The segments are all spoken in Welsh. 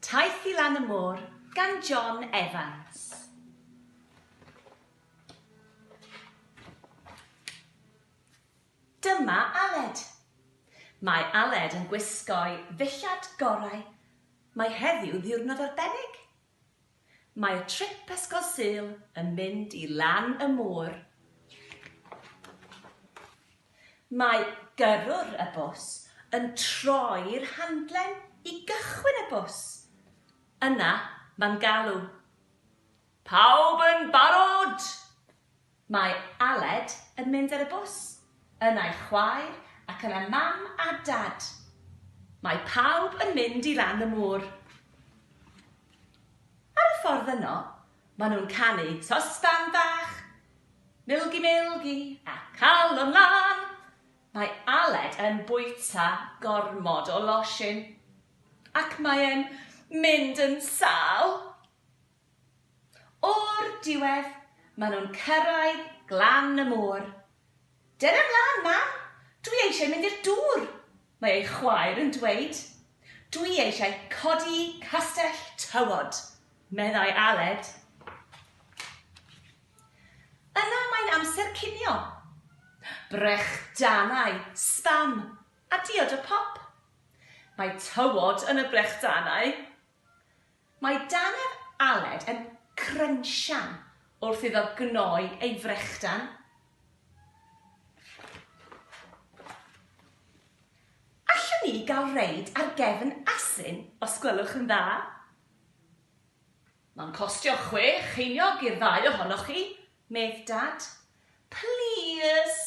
Taith i lan y môr gan John Evans. Dyma Aled. Mae Aled yn gwisgo'i ddillad gorau. Mae heddiw ddiwrnod arbennig. Mae trip Ysgol Sul yn mynd i lan y môr. Mae gyrrwr y bws yn troi'r handlen i gychwyn y bws. Yna mae'n galw, Pawb yn barod? Mae Aled yn mynd ar y bws. Yna ei chwaer ac yna mam a dad. Mae pawb yn mynd i ran y môr. Ar y ffordd yno, maen nhw'n canu Sosban Bach, Milgi Milgi a Calon Lân. Mae Aled yn bwyta gormod o losin ac mae e'n mynd yn sâl. O'r diwedd, maen nhw'n cyrraedd glan y môr. Dere 'mlaen, mam! Dwi eisiau mynd i'r dŵr! mae ei chwaer yn dweud. Dwi eisiau codi castell tywod, meddai Aled. Yna mae'n amser cinio. Brechdanau, sbam, a diod o pop. Mae tywod yn y brechdanau. Mae Dannedd Aled yn crynsian wrth iddo gnoi ei frechdan Allwn ni gael reid ar gefn asyn os gwelwch yn dda? Mae'n costio chwe cheiniog i'r ddau ohonoch chi, medd Dad. Plîs!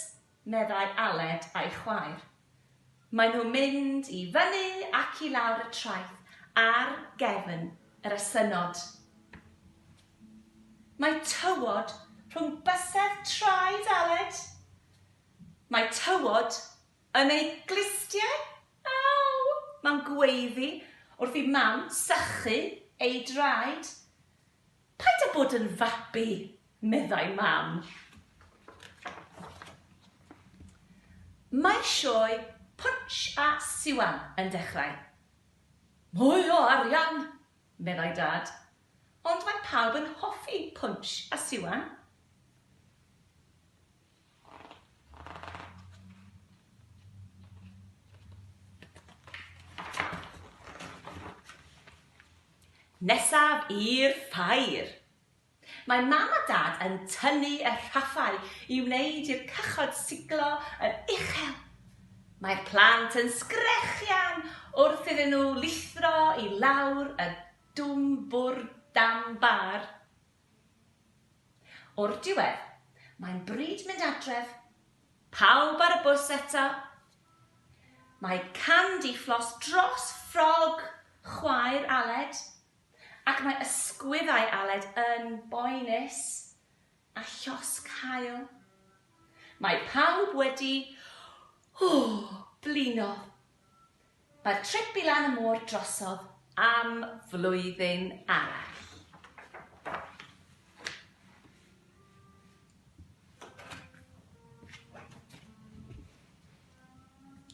meddai Aled a'i chwaer. Maen nhw'n mynd i fyny ac i lawr y traeth ar gefn yr asynod. Mae tywod rhwng bysedd traed Aled. Mae tywod yn ei glustiau. Aw! Mae'n gweiddi wrth i Mam sychu ei draed. Paid â bod yn fabi, meddai Mam. Mae sioe Punch a Siwan yn dechrau. Mwy o arian! meddai Dad. Ond mae pawb yn hoffi Punch a Siwan. Nesaf i'r ffair! Mae Mam a Dad yn tynnu y rhaffau i wneud i'r cychod siglo yn uchel. Mae'r plant yn sgrechian wrth iddyn nhw lithro i lawr y dwmbwr dan bar. O'r diwedd, mae'n bryd mynd adref. Pawb ar y bws eto. Mae candifflos dros ffrog chwaer Aled, ac mae ysgwyddau Aled yn boenus a llosg haul. Mae pawb wedi blino. Mae'r trip i lan y môr drosodd am flwyddyn arall.